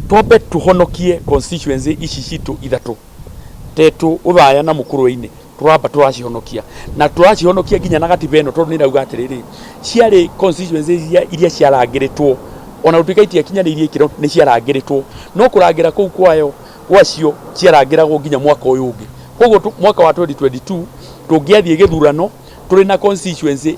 Twambe tũhonokie constituency ici citũ ithatũ tetũ ũthaya na mũkũrũinĩ tũramba tũracihonokia na tũracihonokia nginya na gatiba ĩno tondũ nĩrauga atĩrĩrĩ ciarĩ constituency iria, iria ciarangĩrĩtwo ona gũtuĩka itiakinyanĩirie ikĩro nĩ ciarangĩrĩtwo no kũrangĩra kũu kwayo gwacio ciarangĩragwo nginya mwaka ũyũ ũngĩ koguo tu- mwaka wa 2022 tũngĩathiĩ gĩthurano tũrĩ na constituency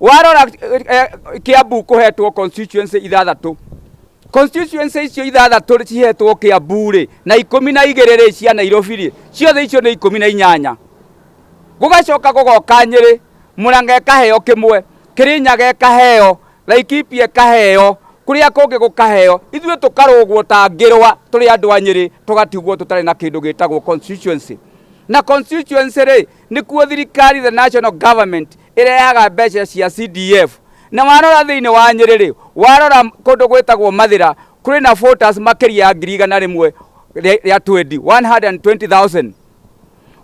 warora eh, eh, kiambu kuhetwo constituency ithathatu constituency icio ithathatu rĩ- cihetwo kiambu rĩ na ikumi na igĩrĩ rĩ cia nairobi rĩ ciothe icio nĩ ikumi na inyanya gũgacoka gũgoka nyĩrĩ mũranga ĩkaheo kĩmwe kĩrĩnyaga ĩkaheo laikipia ĩkaheo kũrĩa kũngĩ gũkaheo ithuĩ tũkarũgwo ta ngĩrwa tũrĩ andũ a nyĩrĩ tũgatigwo tũtarĩ na kĩndũ gĩtagwo constituency na constituency rĩ nĩkuo thirikari the national government ĩrehaga mbeca cia CDF na warora thĩinĩ wa Nyĩrĩ-rĩ, warora kũndũ gwĩtagwo Mathĩra kũrĩ na voters makĩria ya ngiri igana rĩmwe rĩa rĩa twendi 120,000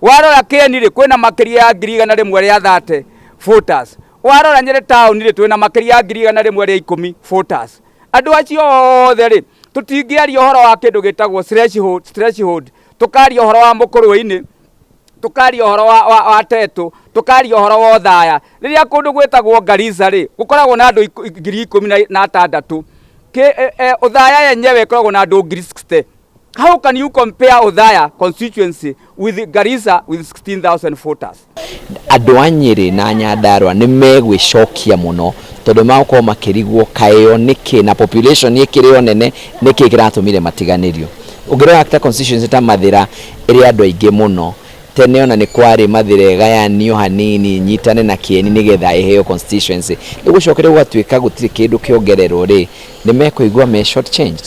warora Kĩeni-rĩ kwĩna makĩria ya ngiri igana rĩmwe rĩa 30 voters warora Nyĩrĩ taũni-rĩ twĩna makĩria ya ngiri igana rĩmwe rĩa ikũmi voters andũ acio othe-rĩ tũtingĩaria ũhoro wa kĩndũ gĩtagwo threshold threshold tũkaria ũhoro wa mũkũrũe-inĩ tũkaria ũhoro wa, wa, wa tetũ tũkaria ũhoro wa ũthaya rĩrĩa kũndũ gwĩtagwo Garissa rĩ gũkoragwo na andũ ikũ- ngiri ikũmi na- na atandatũ Kĩ- e- e, ũthaya yenyewe ĩkoragwo na andũ ngiri 60 how can you compare ũthaya constituency with Garissa with 16000 voters andå a nyä na nyandarwa nä megwäcokia må no tondå magåkorwo makä rigwo kaäo nä kä na population ä kä rä o nene nä kä kä ratå mire matiganä rio å ngä rora ta constituency ta mathä ra ĩrĩ andũ aingĩ mũno. Tene ona nĩ kwarĩ Mathĩra ĩgayanio hanini ĩnyitane na Kĩeni nĩgetha ĩheo constituency. Rĩu gũcokire gũgatuĩka gũtirĩ kĩndũ kĩongererwo rĩ, nĩ mekũigua me short changed?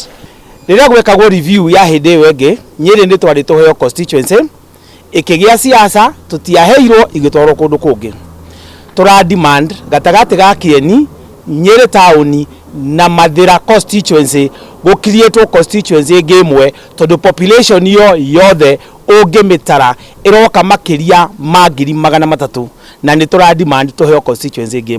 Rĩrĩa gwekagwo review ya hĩndĩ ĩyo ĩngĩ, Nyĩrĩ nĩ twarĩ tũheo constituency, ĩkĩgĩa Siasa, tũtiaheirwo, igĩtwarwo kũndũ kũngĩ. Tũra demand gatagatĩ ga Kĩeni, Nyĩrĩ taũni na Mathĩra constituency gũ creatwo constituency ĩngĩ ĩmwe tondũ population yo yothe ũngĩmĩtara ĩroka makĩria ma ngiri magana matatũ na nĩ tũra demand tũheo constituency ĩngĩ.